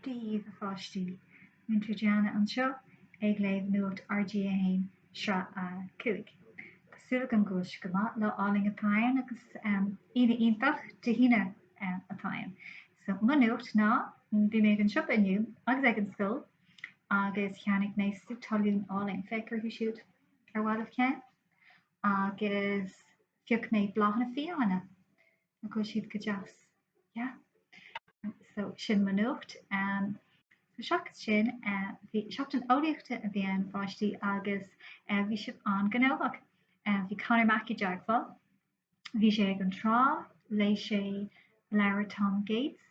Dia daoibh a pháistí, Múinteoir Diana anseo ag léamh Nuacht RG1, Sraith 5. Tá súil agam go bhfuil sibh go maith, lá álainn atá ann agus Aoine iontach Dé hAoine atá ann. So, mo nuacht ná, bhí mé ag an siopa inniu agus ag an scoil agus cheannaigh mé sú talún álainn, féach orthu siúd ar mhaith libh ceann, agus phioc mé bláthanna fiáine. An bhfuil siad go deas? Yeah. So sin mo nuacht. Um, so seachas sin uh, bhí seachtain eolaíochta a bhí ann a pháistí agus uh, bhí sibh an-ghnóthach. Uh, bhí Conor Mackey i dteagmháil. Bhí sé ag an trá léigh sé leabhar Tom Gates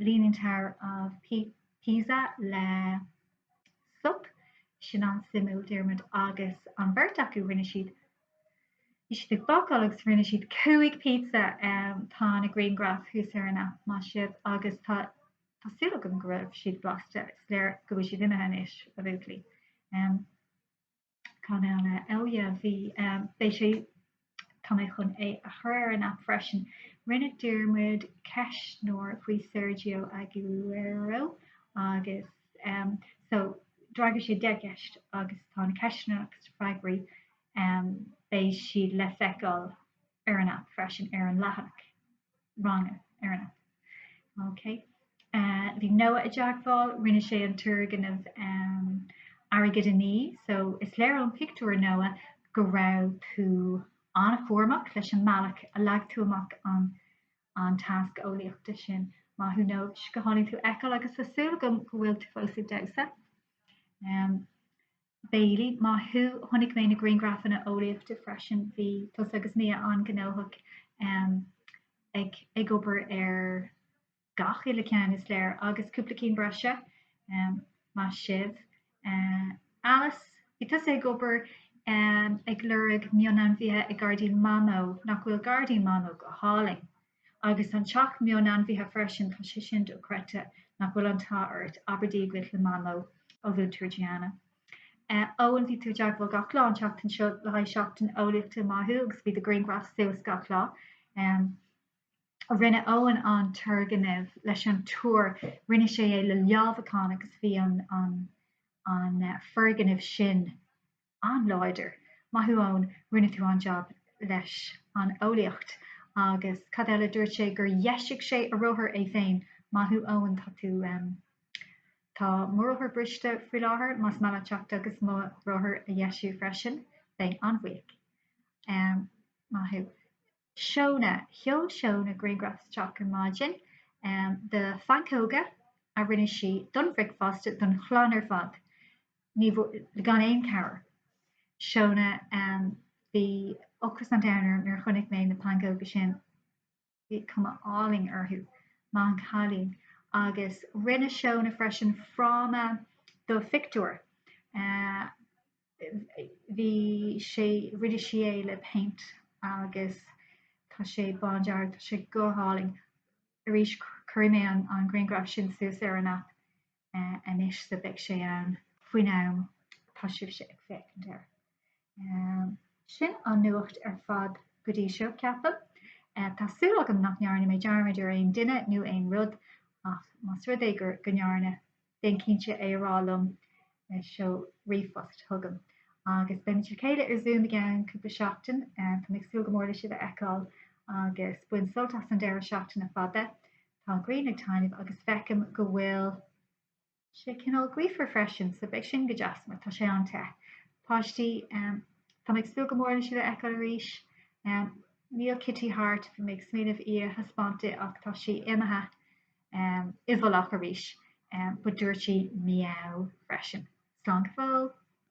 Leaning Tower of Pisa le sop sin an-suimiúil Diarmuid agus an bheirt acu rinne siad bhí siad ag bacáil agus rinne siad cúig pizza tá na grianghraif thuas ar an aip maith sibh agus tá tá súil agam go raibh siad blasta is léir go bhfuil siad imithe anois a bhuachaillí. Ceann eile eile a bhí, beidh sé, tá mé chun é a chur ar an aip freisin, rinne Diarmuid ceistneoir faoi Sergio Aguero agus so d'fhreagair sé deich gceist agus tá na ceisteanna agus na freagraí, beidh siad le feiceáil ar an aip freisin ar an leathanach. ranga ar an aip. Ok eh bhí Noah i dteagmháil, rinne sé an turgnamh em airgead a ní so is léir ón pictiúr Noah go raibh tú an-chúramach leis an mbealach a leag tú amach an an tasc eolaíochta sin. Maith thú Noah, go hálainn tú a fheiceáil agus tá súil agam go bhfuil tú fós ag damhsa. Em. Bailey, Maith thú, chonaic mé na grianghrafanna eolaíochta freisin, bhí tusa agus Mia an-ghnóthach ag obair ar gach uile cheann, is léir, agus cúpla cinn breise, maith sibh. Alice, Bhí tusa ag obair ag lorg mionainmhithe i ngairdín Mamó nach bhfuil gairdín Mamó go hálainn. Agus an teach mionainmhithe freisin, tá sé sin dochreidte nach bhfuil an t-ádh ort, abair Dia dhuit le Mamó ó Mhúinteoir Diana. Eoin, Bhí tú i dteagmháil gach lá an tseachtain seo le haghaidh seachtain eolaíochta maith thú agus bhí do ghrianghraif suas gach lá. Em, rinne Eoin an turgnamh leis an túr, rinne sé é le leamhacháin agus bhí an foirgneamh sin an-láidir. Maith thú Eoin, rinne tú an-jab leis an eolaíocht agus cad eile, dúirt sé gur dheisigh sé a rothar é féin. Maith thú Eoin, tá tú, em. tá mo rothar briste faoi láthair, más maith leat teacht agus mo rothar a dheisiú freisin, bheinn an-bhuíoch. Em. Maith thú. Seóna, sheol Seóna grianghraf isteach ar maidin de phancóga a rinne sí don bhricfeasta don chlann ar fad, ní, gan aon cabhair. Seóna, bhí ocras an domhain orm nuair a chonaic mé na pancóga sin, bhí cuma álainn orthu, maith an cailín. Agus rinne Seóna freisin fráma do phictiúir. bhí sé rinne sí é le péint agus tá sé bándearg tá sé go hálainn arís cuirfidh mé an griangraf sin suas ar an aip anois so beidh sé ann faoin am atá sibhse ag féachaint air. Sin an nuacht ar fad go dtí seo ceapaim. Tá súil agam nach ndearna mé dearmad ar aon duine nó aon rud ach más rud é go ndearna Déan cinnte é a rá liom, seol ríomhphost chugam. Agus beimid le chéile ar Zoom i gceann cúpla seachtain. Táim ag súil go mór le sibh a fheiceáil agus bain sult as an deireadh seachtaine fada. Tá grian ag taitneamh agus feicim go bhfuil sé cineál gaofar freisin so beidh sin go deas mar tá sé an-te. Páistí, táim ag súil go mór le sibh a fheiceáil arís. Níl Kitty thart, bhí mé ag smaoineamh í a thaispeáint daoibh ach tá sí imithe. i bhfolach arís, but dúirt sí meow freisin. Slán go fóill!